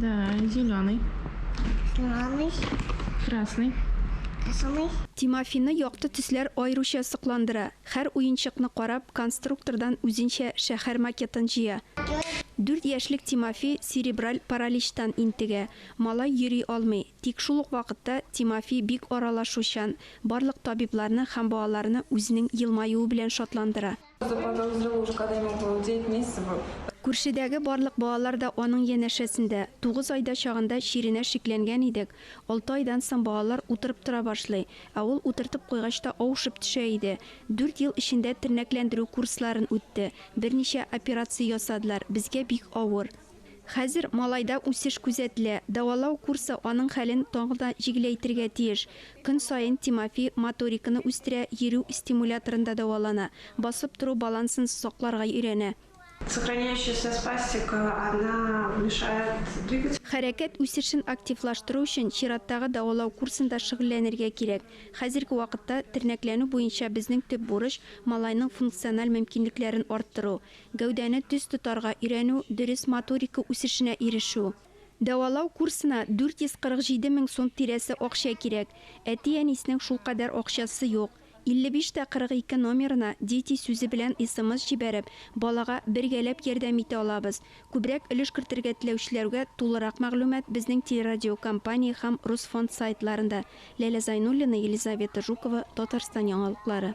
Да, зеленый. Зеленый. Красный. Красный. Тимофины якты төсләр аеруча сокландыра. Хәр уенчыкны карап, конструктордан үзенчә шәхәр макетын җыя. Дүрт яшьлек Тимофи серебраль параличтан интегә. Малай йөри алмый. Тик шул ук вакытта Тимофи бик аралашучан, барлык табибларны һәм балаларны үзенең елмаюы белән шатландыра. Күршедәге барлык балалар да аның янәшәсендә. Тугыз айда чагында чиренә шикләнгән идек. Алты айдан соң балалар утырып тора башлый, ә ул утыртып куйгач та авышып төшә иде. Дүрт ел эчендә тернәкләндерү курсларын үтте, берничә операция ясадылар, безгә бик авыр. Хәзер малайда үсеш күзәтелә, дәвалау курсы аның хәлен тагын да җиңеләйтергә тиеш. Көн саен Тимофи моториканы үстерә, йөрү стимуляторында дәвалана, басып тору балансын сакларга өйрәнә. Сохраняющаяся спастика, она мешает двигать. Хәрәкәт үсешен активлаштыру өчен чираттагы дәвалау курсында шөгыльләнергә кирәк. Хәзерге вакытта тернәкләнү буенча безнең төп бурыч, малайның функциональ мөмкинлекләрен арттыру. Гәүдәне төс тотарга өйрәнү, дөрес моторика үсешенә ирешү. Дәвалау курсына 447 мең сум тирәсе акча кирәк. Әти-әниснең шулкадәр акчасы юк. 55 тә 42 номерына Дети сүзе белән смс җибәреп, балага бергәләп ярдәм итә алабыз. Күбрәк өлеш кертергә теләүчеләргә тулырак мәгълүмат безнең телерадиокомпания һәм Русфонд сайтларында. Ләлә Зайнуллина, Елизавета Жукова, Татарстан яңалыклары.